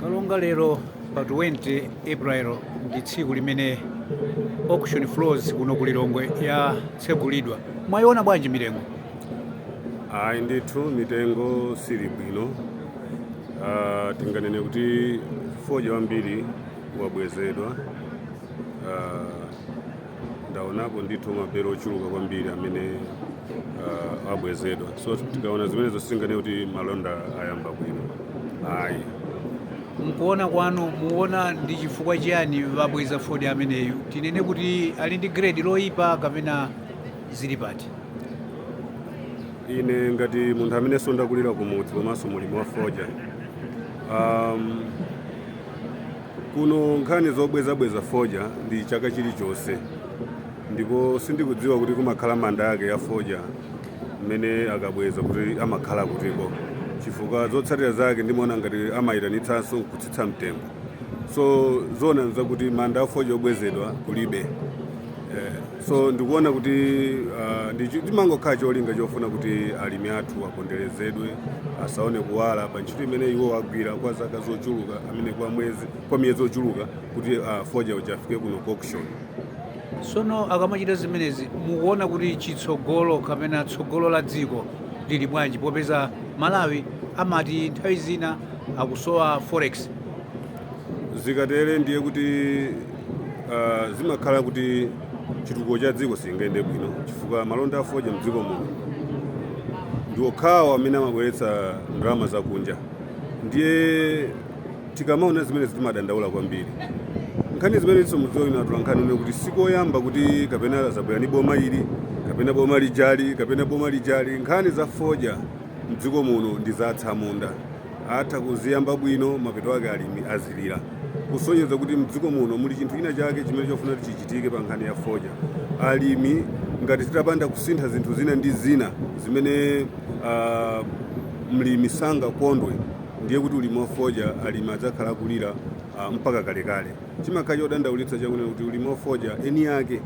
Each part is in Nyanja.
kalonga lero pa 20 april ndi tsiku limene auction floors kuno ku lilongwe yatsegulidwa mwayiona bwanji mitengo ayi ndithu mitengo sili bwino Ah, tinganene kuti fodya wambiri wabwezedwa Ah, ndaonapo ndithu mabelo ochuluka kwambiri amene uh, abwezedwa so tikaona zimenezo sizinganene kuti malonda ayamba bwino ayi mkuona kwanu muona ndi chifukwa chiyani abweza fodya ameneyu tinene kuti ali ndi grade loyipa kapena zili pati ine ngati munthu amenenso ndakulira kumudzi komanso mlimi wa fodya um, Kuno nkhani zobwezabweza fodya ndi chaka chilichonse, ndipo sindikudziwa kuti kumakhala manda ake a fodya amene akabweza kuti amakhala kutiko, chifukwa zotsatira zake ndimaona ngati amayitanitsanso nkutsitsa mtengo. So zoona zake n'zakuti manda a fodya obwezedwa kulibe. Eh. so ndikuona kuti ah, ndi chi- chimangokhala cholinga chofuna kuti alimi athu aponderezedwe asaone kuwala pa ntchito imene iwo agwira kwa zaka zochuluka kapena kwa mwezi kwa miyezi yochuluka kuti ah, fodya uja afike kuno ku auction sono akamachita zimenezi mukuona kuti chitsogolo kapena tsogolo la dziko lili bwanji popeza malawi amati nthawi zina akusowa forex zikatere ndiye kuti ah, zimakhala kuti chitukuko cha dziko sichingayende bwino chifukwa malonda a fodya mdziko muno ndi okhawo amene amabweretsa ndalama zakunja ndiye tikamaona zimenezi timadandaula kwambiri nkhani zimenenso mudziwa inu atolankhani inu kuti sikoyamba kuti kapena azabwera ndi boma ili kapena boma lijali kapena boma lijali nkhani za fodya mdziko muno ndi za atsamunda atha kuziyamba bwino mapeto ake alimi azilira kusonyeza kuti mdziko muno muli chinthu china chake chimene chofuna kuti chichitike pa nkhani ya fodya alimi ngati titapanda kusintha zinthu zina ndi zina zimene ah, mlimi sangakondwe ndiye kuti ulimi wa fodya alimi adzakhala akulira ah, mpaka kalekale chimakhala chodandaulitsa chakunena kuti ulimi wa fodya eni ake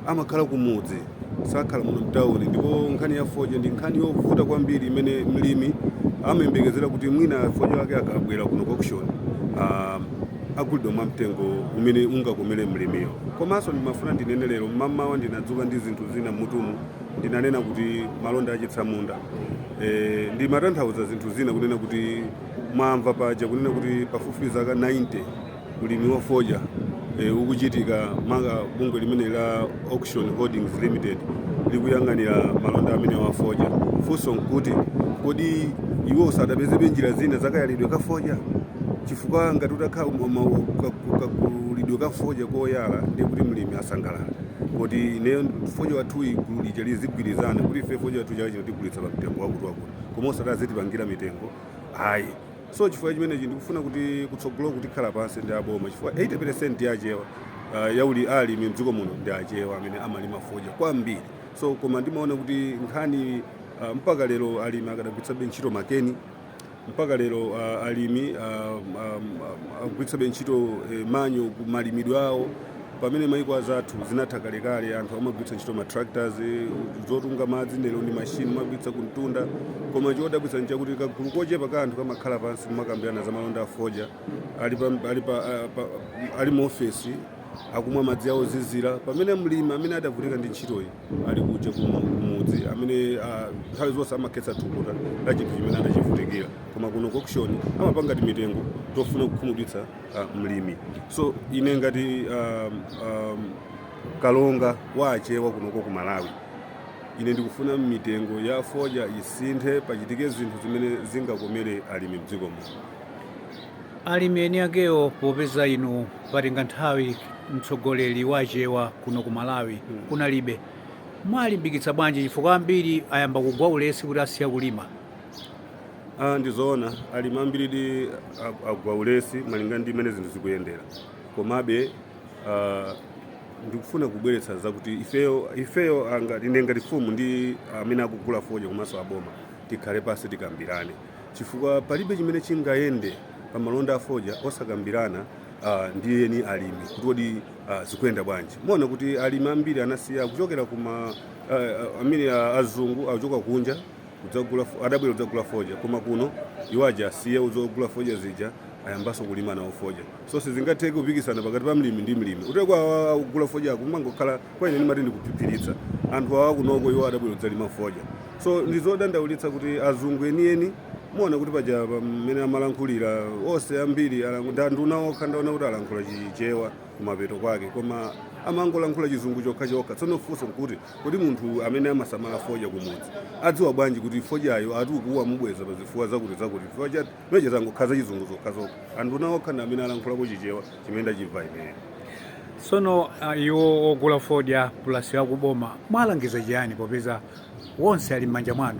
amakhala kumudzi sakhala muno mtawuni ndipo nkhani ya fodya ndi nkhani yovuta kwambiri imene mlimi amayembekezera kuti mwina fodya wake akabwera kuno ku auction ah, agulidwa mwa mtengo umene ungakomere mlimiyo komanso ndimafuna ndinene lero mmamawa ndinadzuka ndi zinthu zina m'mutumu ndinanena kuti malonda achitsamunda e, ndimatanthauza zinthu zina kunena kuti mwamva paja kunena kuti pafupifupi zaka 90 ulimi wa fodya ukuchitika maka bungwe limene la Auction Holdings Limited likuyang'anira malonda amenewa a fodya. Funso nkuti kodi iwo sadapezebe njira zina zakayalidwe ka fodya chifukwa ngati utakhala kakulidwe ka fodya koyala ndiye kuti mlimi asangalala kuti ineyo fodya wathuyi gulu lija lizigwirizana kuti ife fodya wathu chaka chino tigulitsa pa mtengo wakuti wakuti koma osati azitipangira mitengo ayi so chifukwa chimenechi ndikufuna kuti kutsogoloku tikhala pansi ndi aboma chifukwa 80% ya achewa uh, yauli alimi mdziko muno ndi achewa amene amalima fodya kwambiri so koma ndimaona kuti nkhani uh, mpaka lero alimi akadagwiritsabe ntchito makeni mpaka lero uh, alimi uh, um, um, akugwiritsabe ntchito eh, manyowa mu malimidwe awo Pamene maiko anzathu zinatha kalekale anthu amagwiritsa ntchito ma tractors zotunga madzi ndi machine amagwiritsa kumtunda koma chodabwitsa nchakuti kagulu kochepa ka anthu kamakhala pansi kumakambirana za malonda a fodya ali pa, ali pa, ah, pa ali mu office akumwa madzi awo ozizira pamene mlimi amene adavutika ndi ntchitoyi ali kuja kumudzi amene ah, nthawi uh, zonse amakhetsa thukuta la chinthu chimene adachivutikira koma kuno ku auction amapanga timitengo tofuna kukhumudwitsa uh, mlimi so ine ngati um, um, kalonga wa achewa kunoko ku malawi ine ndikufuna mitengo ya fodya isinthe pachitike zinthu zimene zingakomere alimi mdziko muno alimi eni akewo popeza inu patenga nthawi mtsogoleri wachewa kuno ku malawi kunalibe muwalimbikitsa bwanji chifukwa ambiri ayamba kugwa ulesi kuti asiya kulima Ah, ndi zoona alimi ambiridi ag- agwa ulesi malinga ndi mmene zinthu zikuyendera komabe ah, ndikufuna kubweretsa zakuti ifeyo ifeyo anga- ine ngati fumu ndi amene akugula fodya komanso aboma tikhale pansi tikambirane chifukwa palibe chimene chingayende pa malonda a fodya osakambirana ah, ndi eni alimi kuti kodi ah, zikuyenda bwanji muona kuti alimi ambiri anasiya kuchokera kuma ah, ah, mmene ah, azungu akuchoka kunja kudzagula fo- adabwera kudzagula fodya koma kuno iwo aja asiya zogula fodya zija ayambanso kulima nawo fodya so sizingatheke kupikisana pakati pa mlimi ndi mlimi uteko awa akugula fodya akungokhala kwa ine ndimati ndi kuphiphiritsa anthu awa kunoko iwo adabwera kudzalima fodya so ndizodandaulitsa kuti azungu enieni muona kuti paja pamene amalankhulira onse ambiri alangu- ndi anduna okha ndaona kuti alankhula chichewa kumapeto kwake koma amangolankhula chizungu chokha chokha tsono funso nkuti Kodi munthu amene amasamala fodya kumudzi adziwa bwanji kuti fodyayo ati ukuwa amubweza pa zifukwa zakuti zakuti chifukwa cha ma speech angokhala zachizungu zokhazokha anduna okha ndi amene alankhulako chichewa chimene ndachimva ineyo tsono ah, iwo ogula fodya plus akuboma muwalangiza chiyani popeza onse ali m'manja mwanu